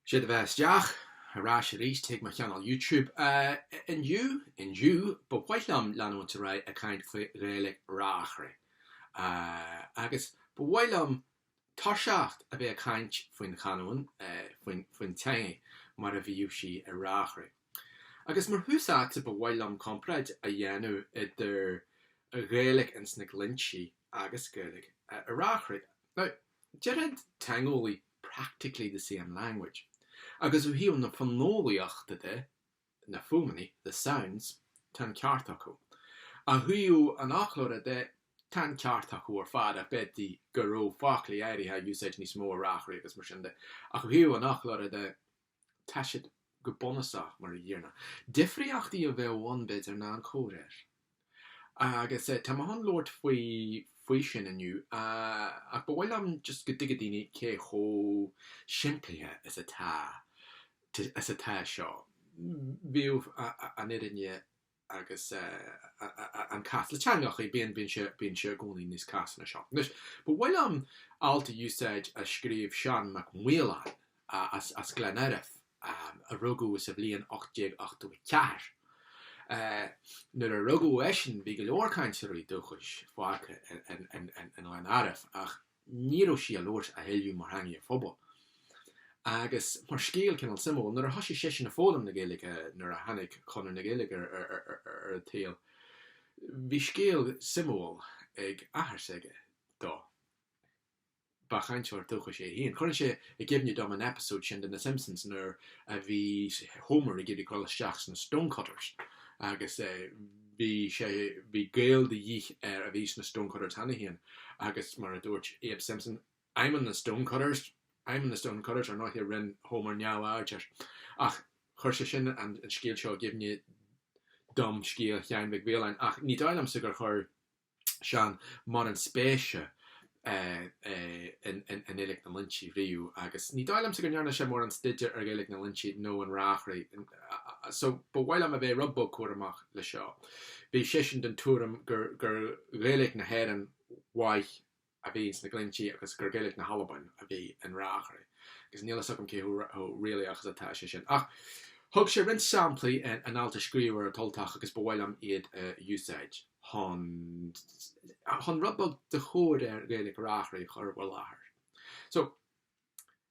'Sé do bheatha isteach, ar ais arís chuig mo Channel Youtube. Indiu, indiu, ba mhaith liom leanúint ar aghaidh ag caint faoi Ghaeilge Reachraidh. Agus ba mhaith liom toiseacht a bheith ag caint faoin chanúin, faoin teangaidh mar a bhíodh sí i Reachraidh. Agus mar thús áite ba mhaith liom comparáid a dhéanamh idir Gaeilge ins na Glinntí agus Gaeilge i Reachraidh. Now. Déarfadh teangeolaí practically the same language agus ó thaobh na fonólaíochta de, na fuaimeanna, the sounds, tá an ceart acu. Ó thaobh an fhoclóra de, tá an ceart acu ar fad ach b'fhéidir go raibh foclaí áirithe á úsáid níos mó i Reachraidh agus mar sin de ach ó thaobh an fhoclóra de, tá siad go bunúsach mar a gcéanna. Difríochtaí a bheadh ann b'fhéidir ná an comhréir. Agus tá mé ag dul a labhairt faoi faoi sin inniu ach ba mhaith liom just go dtuigfidh daoine cé chomh simplithe is atá is atá seo. Bíonn an fhírinne agus an cás le teangthacha, bíonn sé i gcónaí níos casta ná seo. Anois, ba mhaith liom alt a úsáid a scríobh Seán Mac Maoláin as Gleann Airbh, a rugadh sa bhliain 1884. Nuair a rugadh eisean bhí go leor cainteoirí dúchais fágtha i nGleann Airbh, ach ní raibh sí á labhairt a thuilleadh mar theangaidh an phobail. Agus mar scéal cineál suimiúil, nuair a thoisigh seisean ag foghlaim na Gaeilge, nuair a tháinig Conradh na Gaeilge ar an tsaol, bhí scéal suimiúil ag athair s'aige dó. Ba chainteoir dúchais é féin. Cuireann sé i gcuimhne dom an eipeasóid sin de na Simpsons nuair a bhí Homer ag iarraidh dul isteach sna Stonecutters agus bhí sé, bhí gaol de dhíth air a bhí sna Stonecutters cheana féin agus mar a dúirt Abe Simpson, I'm in the Stonecutters, I'm in the Stonecutters, ar ndóiche rinn Homer neamhaird air. Ach chuir sé sin an scéal seo i gcuimhne dom, scéal Sheáin Mhic Mhaoláin, ach ní dóigh liomsa gur chuir Seán mórán spéise i nGaeilge na nGlinntí riamh agus ní dóigh liomsa go ndearna sé mórán staidéir ar Ghaeilge na nGlinntí nó Reachraidh so ba mhaith liom a bheith rud beag cúramach leis seo. Bhí seisean den tuairim gur Gaeilge na hÉireann mhaith a a bhí sna Glinntí agus gur Gaeilic na hAlban a bhí in Reachraidh, agus níl 'fhios agam cé chomh réalaíoch is atá sé sin. Ach thug sé roinnt samplaí in alt a scríobh sé ar An tUltach agus ba mhaith liom iad a úsáid chun chun rud beag de chomhréir Ghaeilic Reachraidh a chur i bhur láthair. So.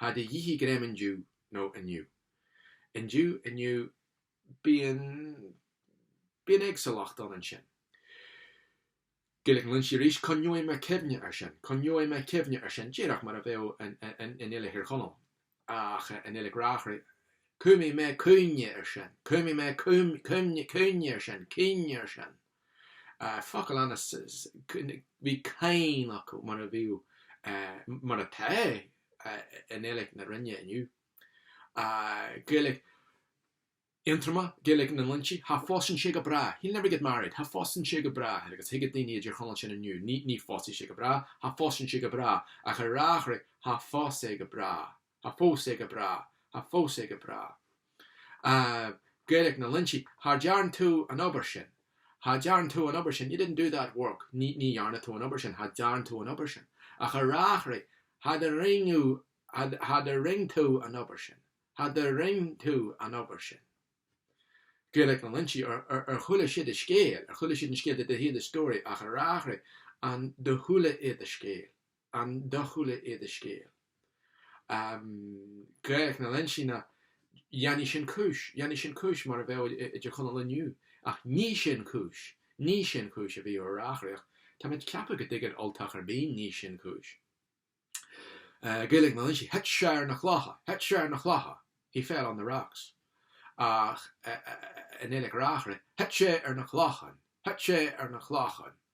Cha do dh'ith í greim indiu, nó inniu. Indiu, inniu, bíonn, bíonn éagsúlacht ann ansin. Gaeilge na nGlinntí arís, Coinneoidh mé cuimhne ar sin, coinneoidh mé cuimhne ar sin, díreach mar a bheadh i, i nGaeilge Thír Chonaill, ach i nGaeilge Reachraidh, Cumfaidh mé cuimhne ar sin, cumfaidh mé cuimhne, cuimhne, cuimhne ar sin, cuimhne ar sin. Focail Ainnis, Bhí cáin acu mar a bhíodh, mar atá, i nGaeilge na Rinne inniu. Gaeilge Aontroma, Gaeilge na nGlinntí, Cha phósann sé go bráth, he'll never get married. Cha phósann sé go bráth, agus thuigfeadh daoine i dTír Chonaill sin inniu, ní phósfaidh sé go bráth, cha phósann sé go bráth, ach ar Reachraidh cha phós é go bráth. Cha phós é go bráth, cha phós é go bráth. Ahh, Gaeilge na nGlinntí. Cha dtearn tú an obair sin, cha dtearn tú an obair sin, you didn't do that work, ní, ní dhearna tú an obair sin, cha dtearn tú an obair sin. Ach ar Reachraidh, cha do rinn thú, cha, cha do rinn tú an obair sin, cha do rinn tú an obair sin. Gaeilge na nGlinntí, ar, ar, ar chuala siad an scéal, ar chuala siad an scéal, did they hear the story, ach ar Reachraidh, an do chuala iad an scéal? An do chuala iad an scéal. Gaeilge na nGlinntí, dhéanfaidh sin cúis, dhéanfaidh sin cúis mar a bheadh i dTír Chonaill inniu, ach ní sin cúis, ní sin cúis a bhíodh ar Reachraidh. Tá mé ag ceapadh go dtuigeann Ultach ar bith, ní sin cúis. Gaeilge na nGlinntí, Thit sé ar na clocha, Thit sé ar na clocha, He fell on the rocks. Ach i nGaeilge Reachraidh, Thit sé ar na clochan, Thit sé ar na clochan,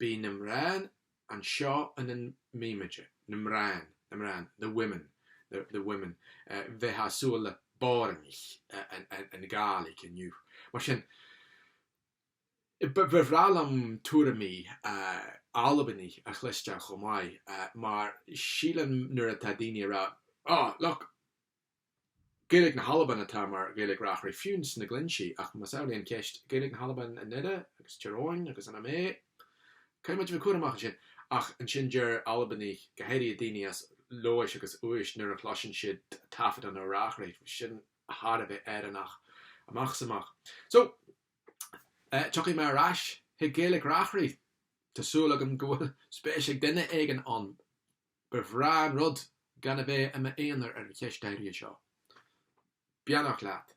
Bhí na mnán anseo ina mbimid, na mnán, na mnán, the women, the women, bheitheá ag súil le boireannaich i nGàidhlig inniu. Mar sin, ba bhreá liom tuairimí Albanaigh a chloisteáil chomh maith, mar sílim nuair atá daoine ag rá, Oh, look, Gaeilge na hAlban atá mar Ghaeilge Reachraidh fiú sna Glinntí, ach más amhlaidh an cheist, Gaeilge na hAlban i nDoire agus Tír Eoghain agus in Ó Méith, caithfidh muid a bheith cúramach ansin. Ach ansin deir Albanaigh, go háirithe daoine as Leòdhas agus Uibhist, nuair a chloiseann siad taifead an fhir Reachraidh, sin thar a bheith Éireannach amach is amach. So, tiocfaidh mé ar ais chuig Gaeilge Reachraidh, tá súil agam go bhfuil spéis ag duine éigin ann. Ba bhreá an rud gan a bheith i m'aonar ar an cheist áirithe seo. Beannacht leat.